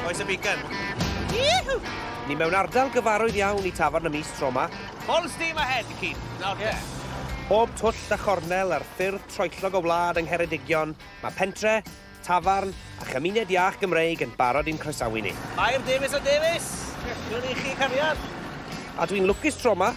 Oes y beacon. Yihw! Ni mewn ardal gyfarwydd iawn i tafarn y mis tro ma. Full steam ahead, Keith. Nawr yeah. Bob twll a chornel ar ffyrdd troellog o wlad yng Ngheredigion, mae pentre, tafarn a chymuned iach Gymreig yn barod i'n croesawu ni. Mair Davies a Davies! Dwi'n i chi cariad! A dwi'n lwcus tro ma,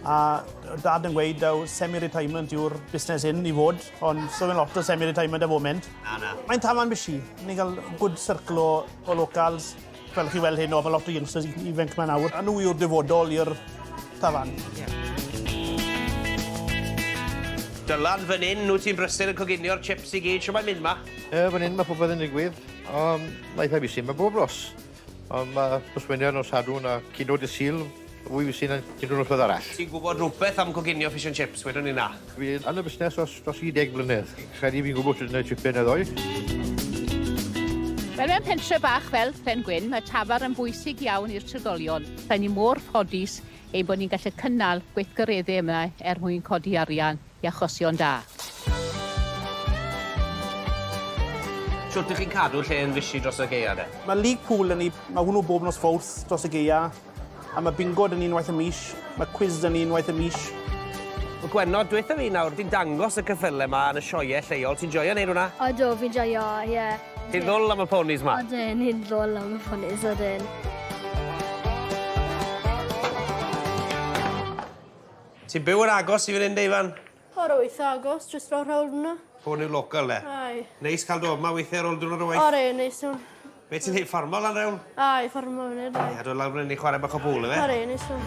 A dad yn gweud daw semi-retirement yw'r busnes hyn i fod, ond so fe'n lot o semi-retirement y foment. Na, na. Mae'n tafarn busy. Ni'n cael good circle o, o locals. Fel chi weld hyn o, mae lot o youngsters ifanc mae'n awr. A nhw yw'r dyfodol i'r tafarn. Yeah. Dylan, fan hyn, nhw ti'n brysur yn coginio'r chips i gyd, siw mae'n mynd ma? E, fan hyn mae popeth yn digwydd. Um, Laethau busy, mae bob ros. Ond mae pwsmenion o Sadwrn a Cino Dydd Sul fwy fysu na unrhyw noswedd arall. Ti'n gwybod rhywbeth am coginio fish and chips? Wedwn ni na. Fi yn y busnes os dros 30 mlynedd. Credu fi'n gwybod sut i wneud chips yn y ddoe. Wel, mewn pentre bach fel Phen Gwyn, mae Tafar yn bwysig iawn i'r trigolion. Rydyn ni mor ffodus ein bod ni'n gallu cynnal gweithgareddau yma er mwyn codi arian. i achosion da. Shwt dych chi'n cadw lle yn fishi dros y gaeaf de? Mae League Pool 'da ni, mae hwnnw bob nos Fowrth dros y gaeaf, a mae Bingo 'da ni unwaith y mis, mae Cwis 'da ni unwaith y mis. Wel Gwenno, dwetha fi nawr, ti'n dangos y cyffyle 'ma yn y sioeau lleol, ti'n joio neud hwnna? Odw, fi'n joio, ie. Ti'n ddwl am y ponis 'ma? Odyn, ni'n ddwl am y ponis, odyn. Ti'n byw yn agos i fan hyn de Ifan? O rho eitha agos, jyst rownd rownd fynna. Hwn yw local de? Aye. Neis cael do yma weithiau ar ôl diwrnod o waith? Ore, neis iawn. Be ti'n neud, ffarmo lan rewn? Aye, ffarmo fan hyn. Ia, dod lawr fan hyn i chwarae bach o bwl ife? Ore, neis iawn.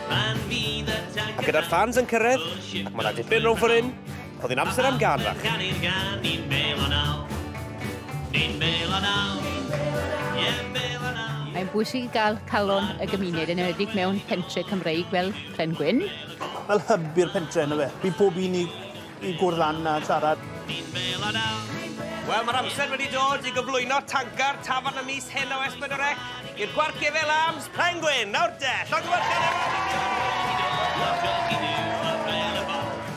A gyda'r ffans yn cyrraedd, ac mae 'na dipyn rownd ffor hyn, Oedd hi'n amser am gân fach. Pam byth ganu gan Ni'n bêl o naw Ni'n bêl o naw Ie yn bêl o naw Mae'n bwysig i gael calon y gymuned, yn enwedig mewn pentre' Cymreig fel Pren Gwyn. Fel hyb i'r pentre' yndyfe? Bydd pob un i i gwrdd lan a siarad. Ni'n bêl o naw Wel mae'r amser wedi dod i gyflwyno tancar tafarn y mis hyn o S4C i'r Gwart Gefel Arms, Pren Gwyn! Nawr de! Llongyfarchiadau mawr i chi!